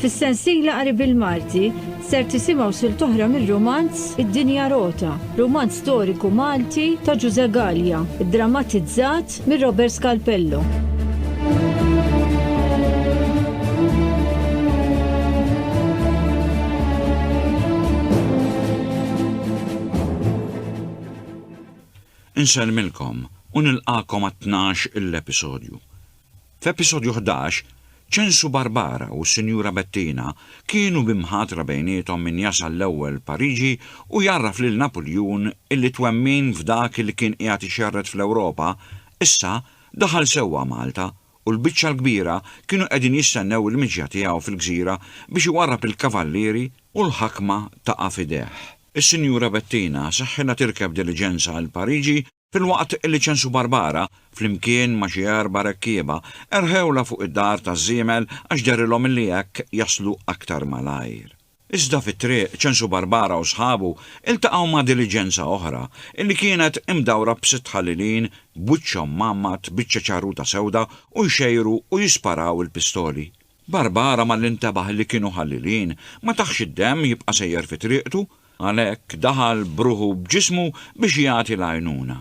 Fis-sensiela qari bil-Malti ser tisimgħu silt oħra mir-rumanz Id-Dinja Rota, rumanz storiku Malti ta' Ġużè Gallia, iddramatizzat minn Robert Scalpello. Insellmilkom u nilqagħkom għat-tnax il-episodju. F'episodju ħdax, Ċensu Barbara u s-Sinjura Bettina kienu bi mħatra bejniethom min jasal l-ewwel Pariġi u jgħarraf lil Napuljun illi twemmin f'dak li kien qiegħed ixerred fl-Ewropa, issa daħal sewwa Malta u l-biċċa l-kbira kienu qegħdin jistennew il-miġja tiegħu fil-gżira biex iwarrab il-kavallieri u l-ħakma taqa' f'idejh. Is-Sinjura Bettina seħħilha tirkeb diliġenza għal Pariġi filwaqt li Ċensu Barbara, flimkien ma' xi erba' rekkieba, erħewlha fuq id-dar taż-żiemel għax dehrilhom li hekk jaslu aktar malajr. Iżda fit-triq, Ċensu Barbara u sħabu ltaqgħu ma' diliġenza oħra, li kienet imdawra b'sitt ħalilin b'wiċċhom mgħammad biċċa ċarruta sewda u jxejru u jisparaw il-pistoli. Barbara malli ntebaħ li kienu ħalilin, ma tahx id-demm jibqa' sejjer fi triqtu, għalhekk daħal b'ruħu b'ġismu biex jagħti l-għajnuna.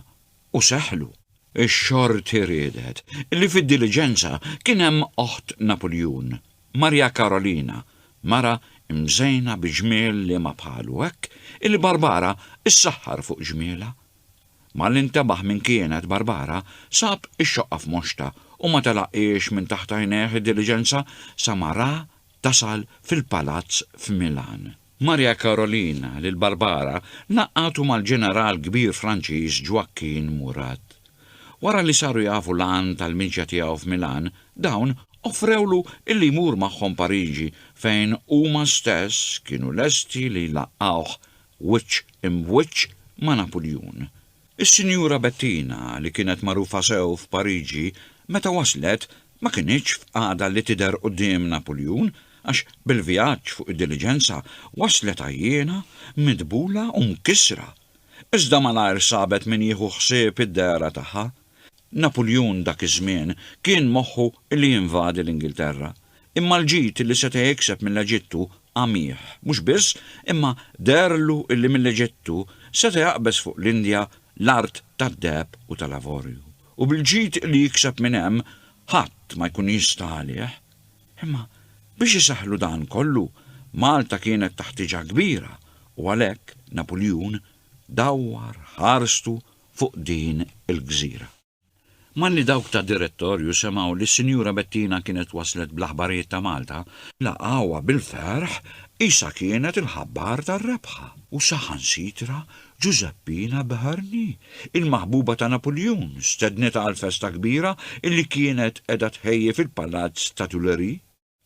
u seħħlu. Ix-xorti riedet li fid-diliġenza kien hemm oħt Napuljun, Maria Karolina, mara mżejna bi ġmiel liema bħalu hekk illi Barbara ssaħħar fuq ġmielha. Malli ntebaħ min kienet Barbara, sab ix-xoqqa f'moxta u ma telaqhiex minn taħt għajnejh id-diliġenza sa ma ra tasal fil-palazz f'Milan. Maria Karolina lil Barbara ngħaqqadu mal-ġeneral kbir Franċiż Joaquin Murat. Wara li saru jafu l-għan tal-miċja tiegħu f'Milan, dawn offrewlu illi jmur magħhom Pariġi fejn huma stess kienu lesti li jlaqqgħuh wiċċ imb'wiċċ ma' Napuljun. Is-Sinjura Bettina, li kienet magħrufa sew f'Pariġi, meta waslet ma kinitx f'qagħda li tidher quddiem Napuljun għax bil-vjaġġ fuq id-diliġenza waslet għajjiena, midbula u mkissra. Iżda malajr sabet min jieħu ħsieb id-dehra tagħha. Napuljun dak iż-żmien kien moħħu li jinvadi l-Ingilterra, imma l-ġid li seta' jikseb mill-Eġittu għamih. Mhux biss, imma deherlu li mill-Eġittu seta' jaqbeż fuq l-Indja l-art tad-deheb u tal-avorju, u bil-ġid li jikseb minn hemm ħadd ma jkun jista' għalih. Imma biex isaħħlu dan kollu, Malta kienet taħtieġha kbira u għalhekk Napuljun dawwar ħarstu fuq din il-gżira. Malli dawk tad-Direttorju semgħu li s-Sinjura Bettina kienet waslet bl-aħbarijiet ta' Malta, laqgħuha bil-ferħ qisha kienet il-ħabbar tar-rebħa. U saħansitra Ġużeppina Beharni, il-maħbuba ta' Napuljun, stednitha għall-festa kbira li kienet qiegħda tħejji fil-Palazz ta' Tuileries.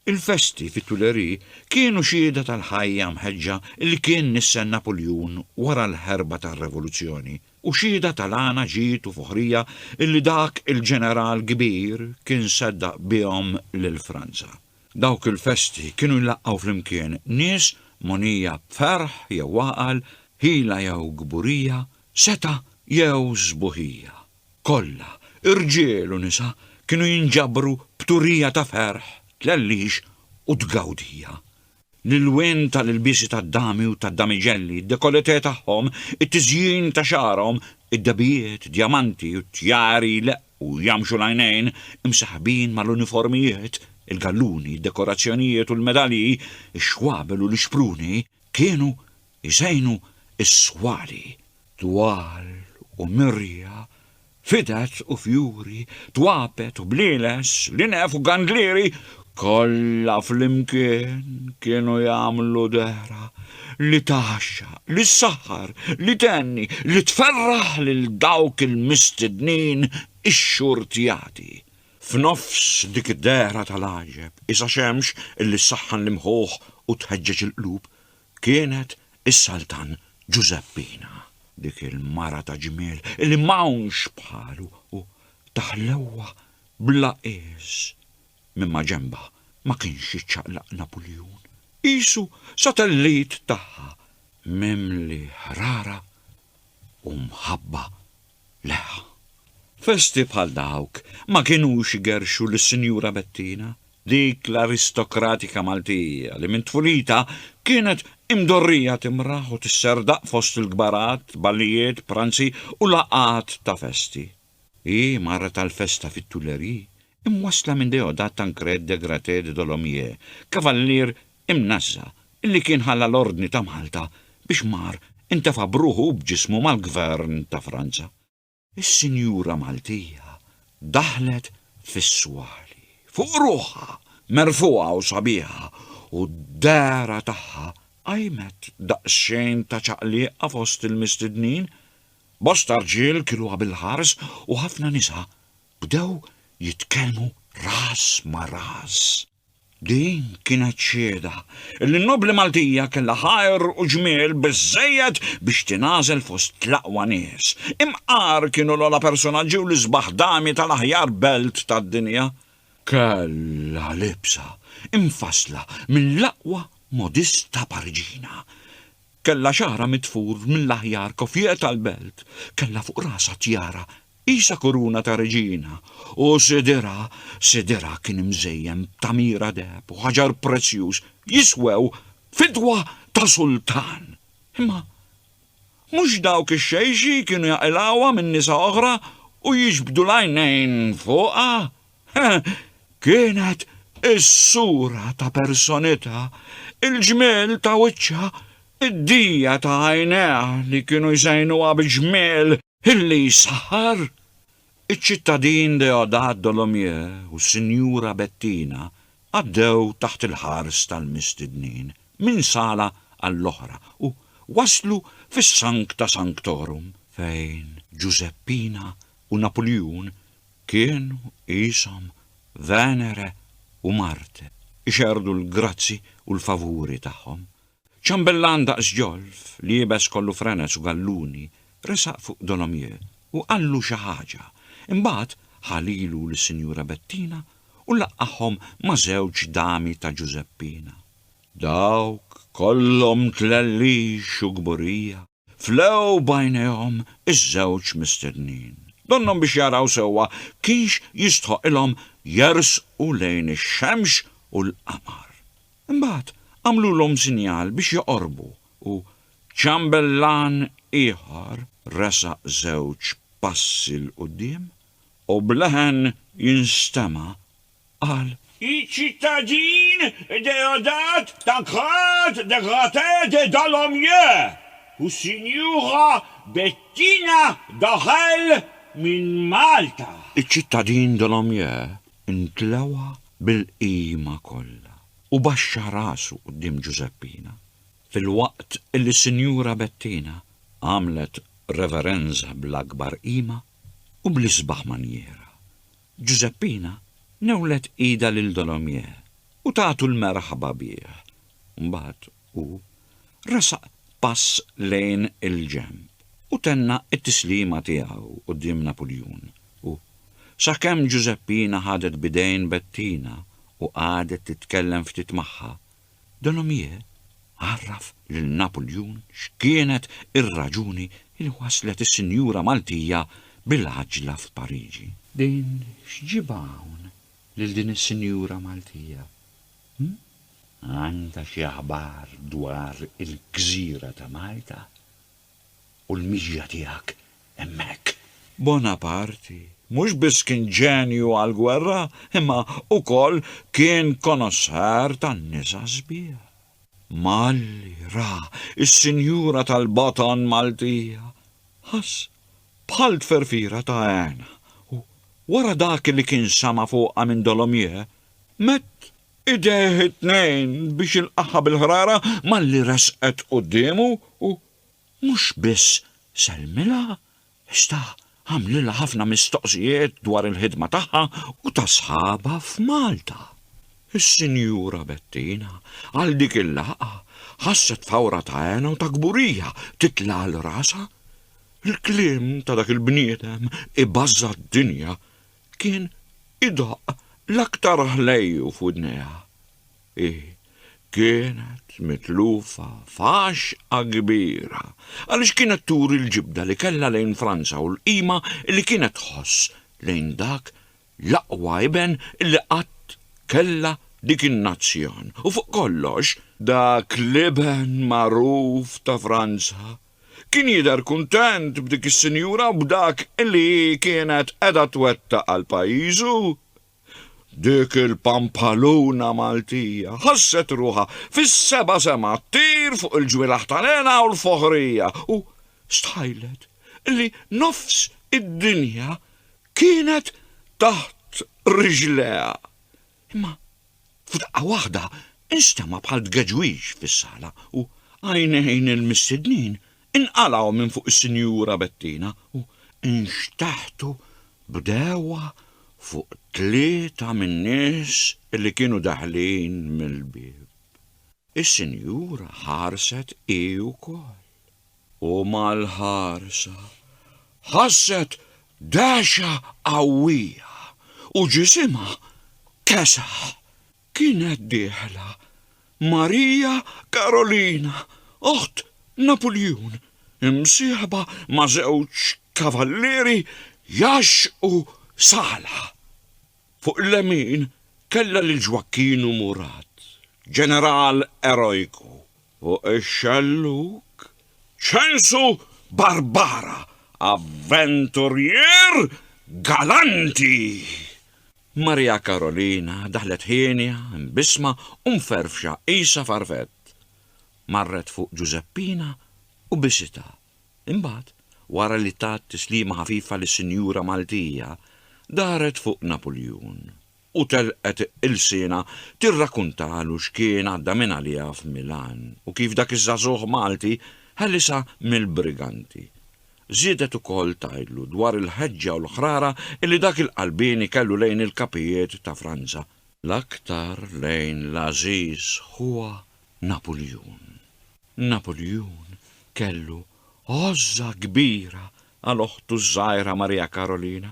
Il-festi fit-Tuileries kienu xhieda tal-ħajja mħeġġa li kien nistenna kull jun wara l-ħerba tar-Revoluzzjoni u xhieda tal-għana ġid u foħrija li dak il-ġeneral kbir kien seddaq bihom lil Franza. Dawk il-festi kienu jlaqqgħu flimkien nies mogħnija b'ferħ jew għaqal, ħila jew kburija, setgħa jew sbuħija. kollha, irġiel u nisa, kienu jinġabru b'turija ta' ferħ, tlellix u tgawdija. L-ilwien ta' l-ilbiesi tad-dami u tad-damiġelli, id-dekolletè tagħhom, it-tiżjin ta' xagħarhom, id-dehbijiet, djamanti u tjari jleqqu u jgħammxu l-għajnejn, imsaħħbin ma' l-uniformijiet, il-galluni, id-dekorazzjonijiet u l-medalji, ix-xwabel u l-ixpruni, kienu jżejnu s-swali. Twal u mirja, fided u fjuri, twabet u blieles, linef u gandlieri, kollha flimkien kienu jagħmlu dehra li tgħaxxaq, li ssaħħar, li thenni, li tferraħ lil dawk il-mistednin ixxurtjati. F'nofs dik id-dehra tal-għaġeb, isa' xemx li ssaħħan l-imħuħ u tħeġġeġ il-qlub, Kienet is-Saltan Ġużeppina, dik il-mara ta' ġmiel li m'hawnx bħalu u ta' ħlewwa bla qies. Minn maġenbha ma kienx jiċċaqlaq Napuljun, qisu satellit tagħha mimli ħrara u mħabba Le, festi bħal dawk ma kinux igerrxu lis-Sinjura Bettina, dik l-aristokratika Maltija li minn tfulitha kienet imdorrija timraħ u tisserdaq fost il-kbarat, ballijiet, pranzi u laqgħat ta' festi. Hi marret għall-festa fit-Tuileries imwassla minn Déodat Tancrède de Gratté de Dolomieu, kavallier imnażża li kien ħalla l-Ordni ta' Malta biex mar intefa' b'ruħu u b'ġismu mal-Gvern ta' Franza. Is-sinjura Maltija daħlet fis-swali, fuq ruħha, merfugħa u sabiħa, u d-dehra tagħha qajmet daqsxejn ta' ċaqliqa fost il-mistednin. Bosta rġiel kiluha bil-ħars u ħafna nisa bdew jitkellmu ras ma' ras. Din kienet xieda li n-nobbli Maltija kellha ħajr u ġmiel biżżejjed biex tingħażel fost l-aqwa nies. Imqar kienu l-ogħla persunaġġi u l-isbaħ dami tal-aħjar belt tad-dinja. Kellha libsa imfassla mill-aqwa modista Pariġina. Kellha xagħarha mitfur mill-aħjar koffier tal-belt. Kellha fuq rasha tjara Qisha kuruna ta' reġina, u sidirha, sidirha kien mżejjen b'tagħmira deheb u ħaġar prezzjuż, jiswew fidwa ta' sultan. Imma mhux dawk ix-xejxi kienu jaqilgħuha minn nisa oħra u jiġbdu l-għajnejn fuqha? Kienet is-sura ta' personitha, il-ġmiel ta' wiċċha, id-dija ta' għajnejha li kienu jżejnuha bi ġmiel, Ħilli jsaħħar, iċ-ċittadin Deodat Dolomieu u s-Sinjura Bettina għaddew taħt il-ħars tal-mistednin minn sala għall-oħra u waslu fis-Sancta Sanctorum fejn Ġużeppina u Napuljun kienu qishom Venere u Marte ixerrdu l-grazzi u l-favuri tagħhom. Ċambellan daqs ġolf, li iebes kollu frenez u galluni, resaq fuq Dolomieu u qallu xi ħaġa, imbagħad ħa lilu lis-Sinjura Bettina u laqqagħhom ma' żewġ dami ta' Ġużeppina. Dawk kollhom tlellix u kburija. Flew b'għajnejhom iż-żewġ mistednin. Donnhom biex jaraw sewwa kienx jistħoqqilhom jersqu lejn ix-xemx u l-qamar. Imbagħad għamlulhom sinjal biex joqorbu u ċambellan ieħor resaq żewġ passi 'l quddiem u b'leħen jinstema' qal. Iċ-ċittadin Deodat Tancrède de Gratté de Dolomieu u s-Sinjura Bettina Dorel minn Malta. Iċ-ċittadin Dolomieu ntlewha bil-qima kollha u baxxa rasu quddiem Ġużeppina, filwaqt li s-Sinjura Bettina għamlet reverenza bl-akbar qima u bl-isbaħ manjiera. Ġużeppina newlet idha lil Dolomieu u tatu l-merħba bih. Mbagħad hu resaq pass lejn il-ġenb u tenna t-tislima tiegħu quddiem Napuljun u, sakemm Ġużeppina ħadet b'idejn Bettina u qagħdet titkellem ftit magħha, Denomier għarraf lil Napuljun x'kienet ir-raġuni li waslet is-sinjura Maltija bil-għaġġla f'Pariġi. Din x'ġibha hawn lil din is-sinjura Maltija? Hm? Għandha xi aħbar dwar il-gżira ta' Malta? u l-mixja tiegħek hemmhekk. Bonaparte mhux biss kien ġenju għall-gwerra imma ukoll kien konoxxer tan-nisa sbieħ. Malli ra s-sinjura tal-baton Maltija, ħass bħal tferfira ta' hena u, wara dak li kien sama' fuqha minn Dolomieu, mett idejh it-tnejn biex ilqagħha bil-ħrara malli resqet quddiemu u mhux biss sellmilha, iżda għamlilha ħafna mistoqsijiet dwar il-ħidma tagħha u ta' sħabha f'Malta. Is-Sinjura Bettina għal dik il-laqgħa ħasset fawra ta' hena u ta' kburija titla' għal rasha. Il-kliem ta' dak il-bniedem ibażża d-dinja kien idaqq l-aktar ħlejju f'widnejha. Hi kienet mitlufa f'għaxqa kbira għaliex kienet turi l-ġibda li kellha lejn Franza u l-qima li kienet tħoss lejn dak l-aqwa iben li qatt kellha dik in-nazzjon u fuq kollox dak l-iben magħruf ta' Franza Kien jidher kuntent b'dik is-sinjura u b'dak li hi kienet qiegħda twettaq għal pajjiżu. Dik il-pampaluna Maltija ħasset ruħha fis-seba' sema ttir fuq il-ġwienaħ tal-hena u l-foħrija u stħajlet li nofs id-dinja kienet taħt riġlejha. Imma f'daqqa waħda nstema' bħal tgeġwix fis-sala u għajnejn il-mistednin inqalgħu minn fuq is-Sinjura Bettina u nxteħtu b'dewwa fuq tlieta min-nies li kienu daħlin mill-bieb. Is-Sinjura ħarset hi wkoll. U mal-ħarsa ħasset dehxa qawwija u ġisimha kesaħ. Kienet dieħla Marija Karolina, oħt Napuljun, imsieħba ma' żewġ kavallieri jgħaxxqu Sala. Fuq il-lemin kellha lil Ġwakkinu Murat, ġeneral erojku. Fuq ix-xellug, ċensu Barbara, avventurjier galanti! Maria Karolina daħlet hienja, imbissma u mferfxa qisha farfett. Marret fuq Ġużeppina u bisitha. Imbagħad, wara li tat tislima ħafifa lis-sinjura Maltija, daret fuq Napuljun. u telqet ilsienha tirrakuntalu x'kien għadda minn għaliha f'Milan u kif dak iż-żagħżugħ Malti ħelisha mill-briganti. Żiedet ukoll tgħidlu dwar il-ħeġġa u l-ħrara li dak il-qalbieni kellu lejn il-kapijiet ta' Franza, l-aktar lejn l-għażiż ħuha Napuljun. Napuljun kellu għożża kbira għal oħtu ż-żgħira Maria Karolina,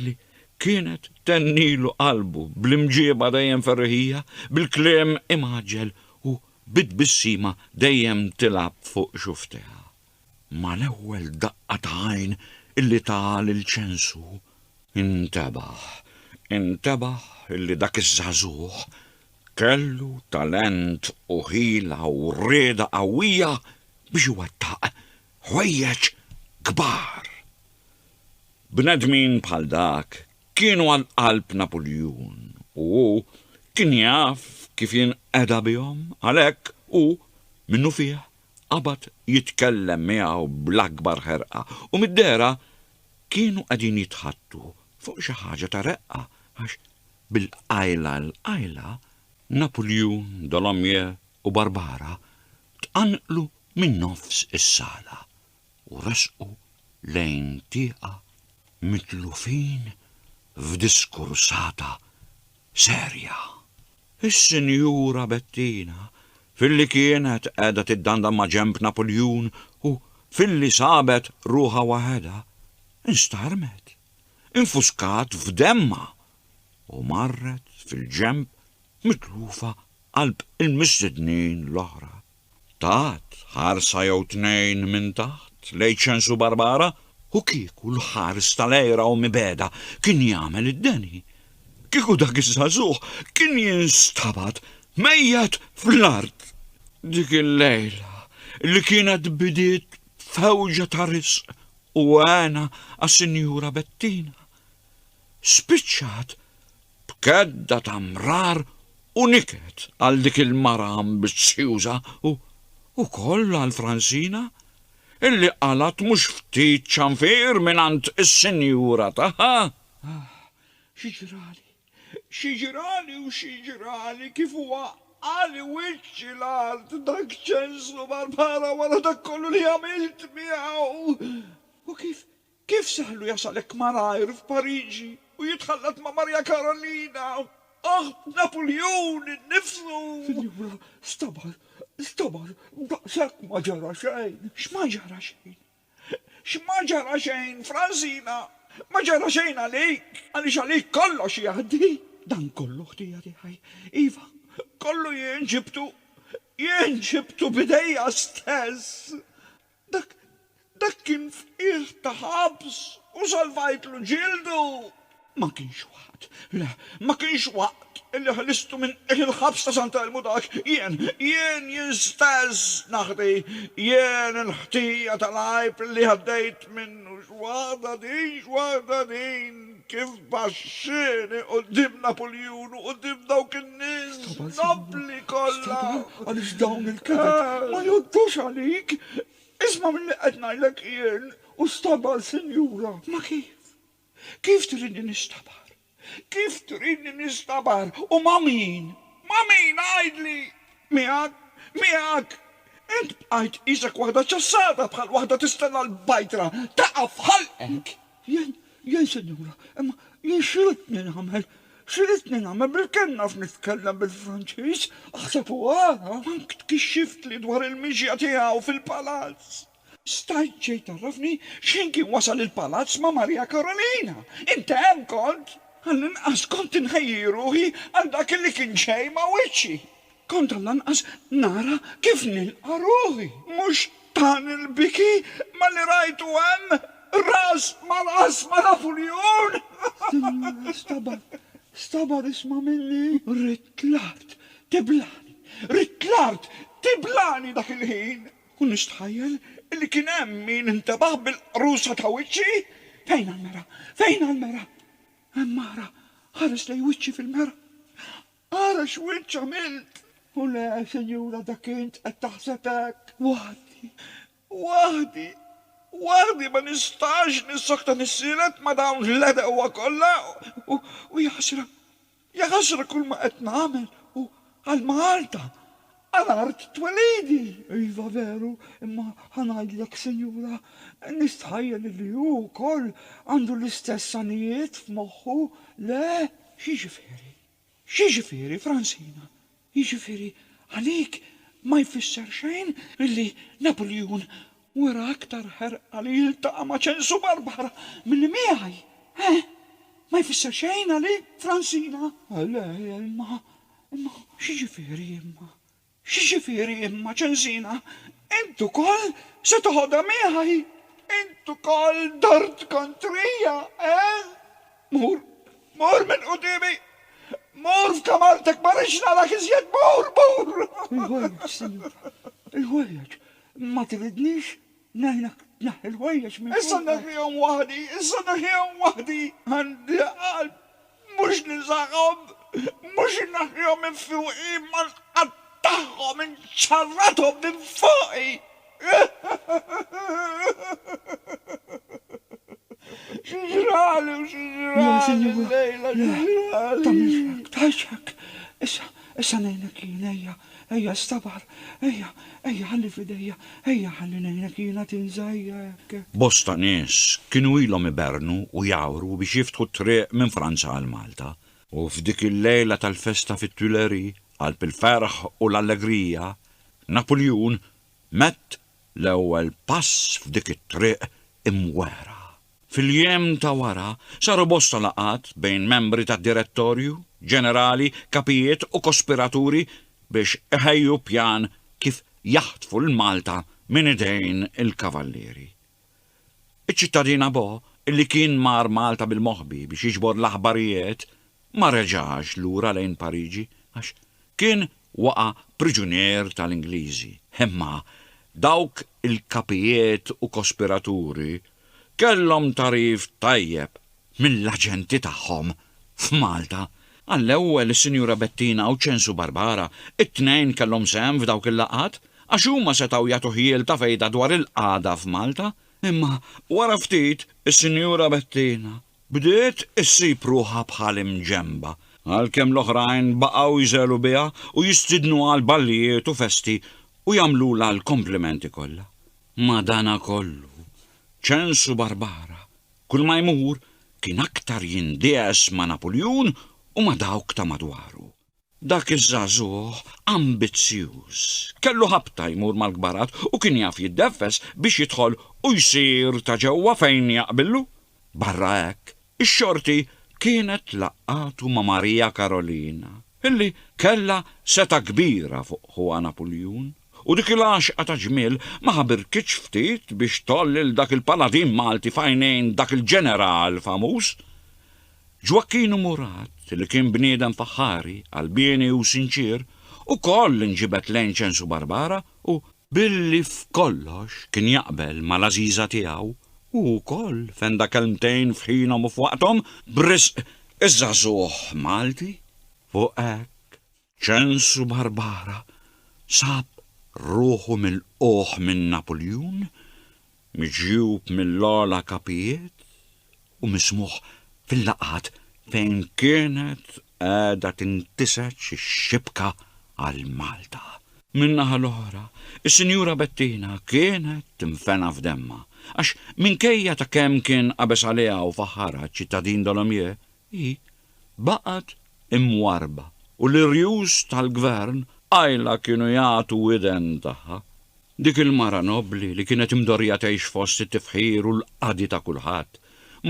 li kienet thennilu qalbu bl-imġieba dejjem ferriħija, bil-kliem imgħaġġel u bi tbissima dejjem tilgħab fuq xufftejha. Mal-ewwel daqqa ta' għajn illi taha lil Ċensu, intebaħ, intebaħ illi dak iż-żagħżugħ kellu talent u ħila u rieda qawwija biex iwettaq ħwejjeġ kbar. Bnedmin bħal dak kienu għal qalb Napuljun u hu kien jaf kif jinqeda bihom, għalhekk hu minnufih qabad jitkellem miegħu bl-akbar ħerqa u mid-dehra kienu qegħdin jitħaddtu fuq xi ħaġa ta' reqqa għax bil-qajla 'l qajla Napuljun, Dolomieu u Barbara tqanqlu minn nofs is-sala u resqu lejn tieqa mitlufin f'diskursata serja. Is-Sinjura Bettina, filli kienet qiegħda tiddandan ma' ġenb Napuljun u filli sabet ruħha waħedha, instarmet, infuskat f'demmha u marret fil-ġenb mitlufa qalb il-mistednin l-oħra. Tat ħarsa jew tnejn minn taħt lejn Ċensu Barbara u kieku l-ħares tal-għira u mibegħda kien jagħmel id-deni, kieku dak iż-żagħżugħ kien jinstabad mejjet fl-art. Dik il-lejla, li kienet bidiet b'fewġa ta' riżq u hena għas-Sinjura Bettina, spiċċat b'kedda ta' mrar u niket għal dik il-mara ambizzjuża u wkoll għal Fransina, illi qalgħet mhux ftit ċanfir mingħand is-sinjura tagħha. Ah, xi ġrali, xi ġrali u xi ġrali kif waqqagħli wiċċi l-art dak ċenslu mal-mara wara dak kollu li għamilt miegħu! U kif Kif sehlu jasal hekk malajr f'Pariġi u jitħallat ma' Marja Karolina, aħt Napuljun innifsu? Sinjura, stabar, stabar, daqshekk ma ġara xejn. X'ma ġara xejn? X'ma ġara xejn, Fransina? Ma ġara xejn għalik, għaliex għalik kollox jgħaddi. Dan kollu ħtija tiegħi. Iva, kollu jien ġibtu, jien ġibtu b'idejja stess. Dak, dak kien fqigħ ta' ħabs u salvajtlu ġildu! Ma kienx waqt, le, ma kienx waqt illi ħlistu minn qigħ il-ħabs ta' Santa Elmu dak, jien, jien, jien stess naħdi, jien il-ħtija tal-għajb illi għaddejt minnu, x'waħda din, x'waħda din! Kif baxxieni quddiem Napuljun u quddiem dawk in-nies nobbli kollha! Stabal, Stabal, għaliex dawn il-kibet ma jgħoddux għalik? Isma' milli qed ngħidlek jien! U stabal, Sinjura! Ma kif? Kif tridni nistabar? Kif tridni nistabar? U ma' min? Ma' min, għidli? Miegħek? Miegħek? Int bqajt qisek waħda ċassata bħal waħda tistenna l-bajtra taqa' f'ħalqek! Jien, jien, sinjura, imma jien x'ridtni nagħmel? X'ridtni nagħmel? Bilkemm naf nitkellem bil-Franċiż, aħseb u ara! Mank tkixxiftli dwar il-mixja tiegħu fil-palazz! Stajt xejn tgħarrafni x'ħin kien wasal il-palazz ma' Maria Karolina? Int hemm kont? Għall-inqas kont inħejji ruħi għal dak li kien ġej ma' wiċċi! Kontra lanqas nara kif nilqa' ruħi. Mhux tani l-biki malli rajtu hemm ras mal-qass ma' Napuljun! Sinjura, stabar, stabar isma' minni. Ridt l-art tiblani, ridt l-art tiblani dak il-ħin! U nistħajjel li kien hemm min intebaħ bil-qrusa ta' wiċċi. Fejnha l-mera? Fejnha l-mera? Hemm ara, ħares lejn wiċċi fil-mera. Ara x'wiċċ għamilt! U le, sinjura, dak int qed taħseb hekk. Waħdi. Waħdi. Waħdi ma nistax nissokta nissielet ma' dawn l-għedewwa kollha u jaħsra, jaħasra kull ma qed nagħmel u għal Malta, għal art twelidi! Iva veru, imma ħa ngħidlek, sinjura, nistħajjel illi hu wkoll għandu l-istess għanijiet f'moħħu, le? X'jiġifieri? X'jiġifieri, Fransina? Jiġifieri għalik ma jfisser xejn illi Napuljun wera aktar ħerqa li jiltaqa' ma' Ċensu Barbara milli miegħi? Eħ? Ma jfisser xejn għalik, Fransina? Le, imma, imma, x'jiġifieri imma? X'jiġifieri imma, ċensina? Int ukoll se toħodha miegħi? Int ukoll dort kontrija, eh? Mur, mur minn quddiemi! Mur f'kamartek, ma rridx narak iżjed, mur, mur! Il-ħwejjeġ, sinjura, il-ħwejjeġ, ma tridnix? Ngħidlek, tneħħi l-ħwejjeġ minn fuqu. Issa neħħihom waħdi, issa neħħihom waħdi. Għandi l-qalb, mhux niżagħhom, mhux inneħħihom minn fuqi, imma nqattagħhom, inċarrathom minn fuqi. Xi ġrali u xi ġrali llejla, xi ġrali. Tagħmilx hekk, tgħidx hekk. Issa, issa ngħinek jien, ejja. Ejja stabar, ejja, ejja ħalli f'idejja, ejja ħalli ngħinek jiena tinża' ejja hekk. Bosta nies kienu ilhom iberrnu u jgħawru biex jiftħu t-triq minn Franza għal Malta, u f'dik il-lejla tal-festa fit-Tuileries, qalb il-ferħ u l-allegrija, Napuljun mett l-ewwel pass f'dik it-triq imwehra. Fil-jiem ta' wara, saru bosta laqgħat bejn membri tad-Direttorju, ġenerali, kapijiet u kospiraturi biex iħejju pjan kif jaħtfu 'l Malta minn idejn il-Kavallieri. Iċ-ċittadin Abo, illi kien mar Malta bil-moħbi biex jiġbor l-aħbarijiet, ma reġax lura lejn Pariġi għax kien waqa' priġunier tal-Ingliżi. Imma dawk il-kapijiet u kospiraturi kellhom tagħrif tajjeb mill-aġenti tagħhom f'Malta. Għall-ewwel is-Sinjura Bettina u Ċensu Barbara, it-tnejn kellhom sehem f'dawk il-laqgħat, għax huma setgħu jagħtu ħjiel ta' fejda dwar il-qagħda f'Malta. Imma wara ftit is-Sinjura Bettina Bdiet issib ruħha bħal imġenba, għalkemm l-oħrajn baqgħu jżegħlu biha u jistiednuha għal ballijiet u festi u jagħmlulha l-komplimenti kollha. Madanakollu, ċensu Barbara, kulma jmur, kien aktar jindiegħes ma' Napuljun u ma' dawk ta' madwaru. Dak iż-żagħżugħ ambizzjuż kellu ħabta jmur mal-kbarat u kien jaf jiddeffes biex jidħol u jsir ta' ġewwa fejn jaqbillu. Barra hekk, ix-xorti kienet laqgħatu ma' Marija Karolina, illi kellha setgħa kbira fuq ħuha Napuljun, u dik il-għaxqa ta' ġmiel ma ħabirkitx ftit biex tgħoll lil dak il-paladin Malti f'għajnejn dak il-ġeneral famuż. Ġwakkinu Murat, li kien bniedem faħħari, qalbieni u sinċier, ukoll inġibed lejn Ċensu Barbara u, billi f'kollox kien jaqbel mal-għażiża tiegħu, hu wkoll fenda kelmtejn f'ħinhom u f'waqthom b'risq iż-żagħżugħ Malti fuq hekk Ċens u Barbara sab ruħu milqugħ minn Napuljun, miġjub mill-ogħla kapijiet u mismugħ fil-laqgħat fejn kienet qiegħda tintiseġ ix-xibka għal Malta. Min-naħa l-oħra, is-Sinjura Bettina kienet tinfena f'demmha għax minkejja ta' kemm kien qabeż għaliha u faħħarha ċ-ċittadin Dolomieu, Hi baqgħet imwarrba u l-irjus tal-gvern qajla kienu jagħtu widen tagħha. Dik il-mara nobbli li kienet imdorrija tgħix fost it-tifħir u l-qadi ta' kulħadd,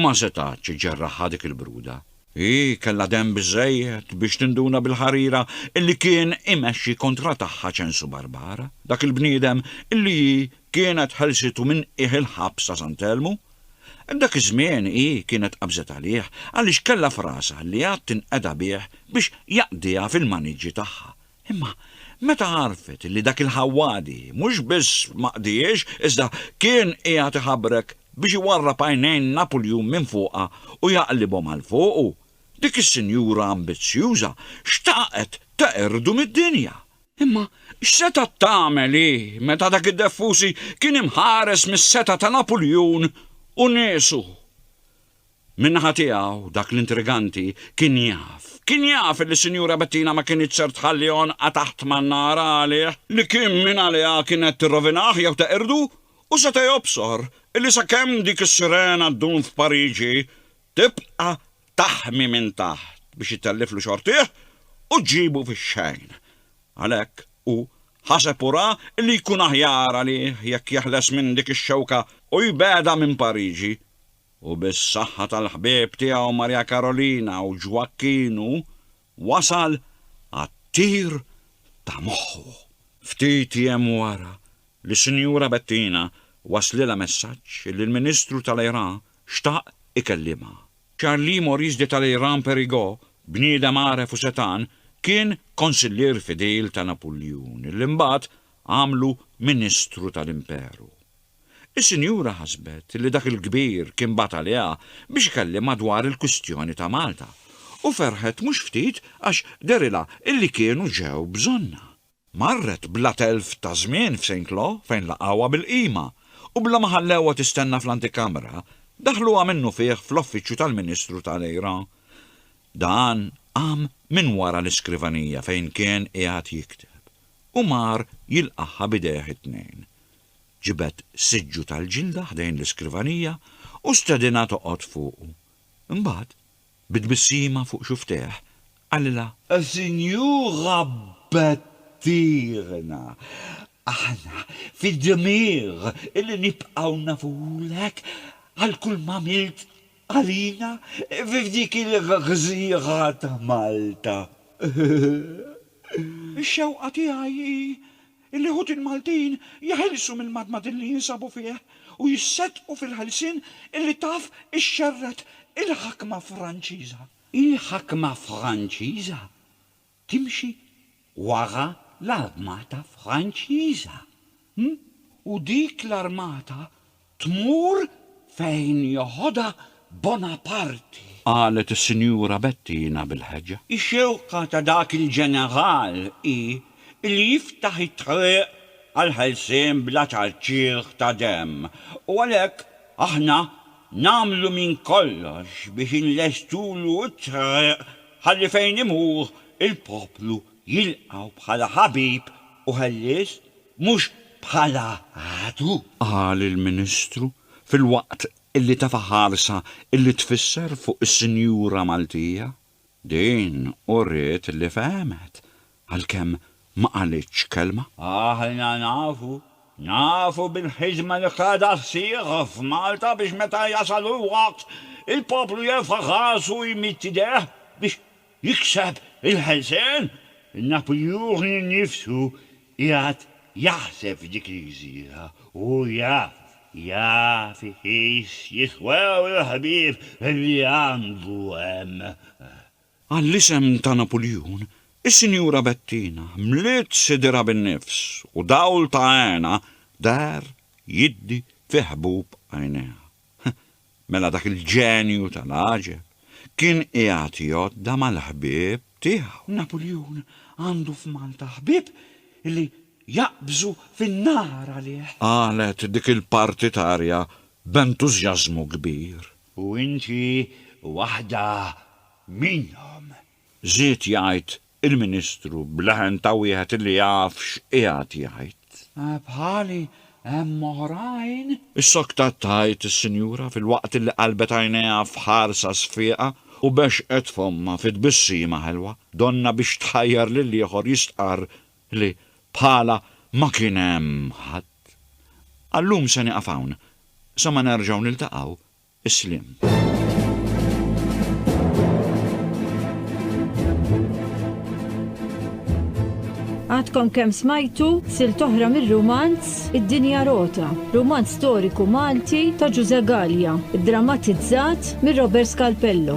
ma setgħatx iġġerraħha dik il-bruda. Hi kellha demm biżżejjed biex tinduna bil-ħarira li kien imexxi kontra tagħha Ċensu Barbara, dak il-bniedem li hi kienet ħelsitu minn qiegħ il-ħabs ta' Sant'Elmu, Dak iż-żmien hi kienet qabżet għalih għaliex kellha f'rasha li għad tinqeda bih biex jaqdiha fil-maniġġi tagħha. Imma meta għarfet li dak il-ħawwadi mhux biss ma qdiex iżda kien qiegħed iħabrek biex iwarrab għajnejn Napuljun minn fuqha u jaqlibhom għal fuqu, dik is-sinjura ambizzjuża xtaqet teqirdu mid-dinja. Imma x'setgħet tagħmel hi meta dak id-Deffusi kien imħares mis-setgħa ta' Napuljun u niesu? Min-naħa tiegħu, dak l-intriganti kien jaf, kien jaf illi Sinjura Bettina ma kinitx ser tħalli għonqha taħt man-nar għalih, li kien minn għaliha kienet tirrovinah jew teqirdu, u seta' jobsor illi sakemm dik is-sirena ddum f'Pariġi, tibqa' taħmi minn taħt biex itelliflu xortih u ġġibu fix-xejn. Għalhekk hu ħaseb u ra li jkun aħjar għalih jekk jeħles minn dik ix-xewka u jbegħda minn Pariġi. U bis-saħħa tal-ħbieb tiegħu Marja Karolina u Ġwakkinu wasal għat-tir ta' moħħu. Ftit jiem wara li Sinjura Bettina waslilha messaġġ li l-Ministru tal-Iraq xtaq ikellimha. Charlie Maurice de Talleyrand Périgot, bniedem għaref u setgħan, kien konsillier fidil ta' Napuljun, li mbagħad għamlu Ministru tal-Imperu. Is-sinjura ħasbet li dak il-kbir kien bagħat għaliha biex ikellimha dwar il-kwistjoni ta' Malta, u ferħet mhux ftit għax dehrilha li kienu ġew bżonnha. Marret bla telf ta' żmien f'Saint-Lô fejn laqgħuha bil-qima u bla ma ħallewha tistenna fl-antikamra, daħluha minnufih fl-Offiċċju tal-Ministru ta' Lejra. Dan qam minn wara l-iskrivanija fejn kien qiegħed jikteb u mar jilqagħha b'idejh it-tnejn. Ġibed siġġu tal-ġilda ħdejn l-iskrivanija u stedinha toqgħod fuqu. Imbagħad Bi tbissima fuq xufftejh, qalilha. Sinjura Bettina, aħna fid-dmir li nibqgħu nafulek għal kull m'għamilt għalina fi f'dik il-gżira ta' Malta. Ix-xewqa tiegħi hi Il-Liħutin Maltin jeħilsu mill-madmadin li jinsabu fih u jisseddqu fil-ħelsien illi taf ixxerred il-ħakma Franċiża. Il-ħakma Franċiża timxi wara l-armata Franċiża, hm? U dik l-armata tmur fejn joħodha Bonaparti. Qalet is-Sinjura Bettina bil-ħeġġa. Ix-xewqa ta' dak il-ġeneral hi li jiftaħ it-triq għall-ħelsien bla ċarċieħ ta' demm u għalhekk aħna nagħmlu minn kollox biex inlestulu t-triq ħalli fejn imur il-poplu jilqgħu bħala ħabib u ħellies mhux bħala għadu. Qal il-Ministru filwaqt li tafa' ħarsa li tfisser fuq is-Sinjura Maltija. Din uriet li fehmet għalkemm ma qalitx kelma. Aħna nafu, nafu bil-ħidma li qiegħda ssir f'Malta biex meta jasal il-waqt il-poplu jerfa' rasu u jmidd idejh biex jikseb il-ħelsien, Napoleon innifsu qiegħed jaħseb f'dik il-gżira u hu jaf, jaf iqis jiswew il-ħbieb li għandu hemm. Għall-isem ta' Napoleon, is-Sinjura Bettina mliet sidierha bin-nifs u dawl ta' hena deher jiddi fi ħbub għajnejha. Mela dak il-ġenju tal-għaġeb kien qiegħed jgħodda mal-ħbieb tiegħu. Napuljun għandu f'Malta ħbieb li jaqbżu fin-nar għalih. Qalet dik il-partitarja b'entużjażmu kbir. U inti waħda minnhom. Żied jgħid il-Ministru b'leħen ta' wieħed li jaf x'qiegħed jgħid. Bħali hemm oħrajn. Issoktat tgħid is-sinjura filwaqt li qalbet għajnejha f'ħarsa sfieqa u bexxqet fommha fi tbissima ħelwa, donnha biex tħajjar lill-ieħor jistqarr li bħalha ma kien hemm ħadd. Għal-lum se nieqaf hawn, sa ma nerġgħu niltaqgħu. Is-sliem. Għadkom kemm smajtu sil toħra mir-rumanz Id-Dinja Rota, rumanz storiku Malti ta' Ġuże Gallia, drammatizzat mir Robert Scalpello.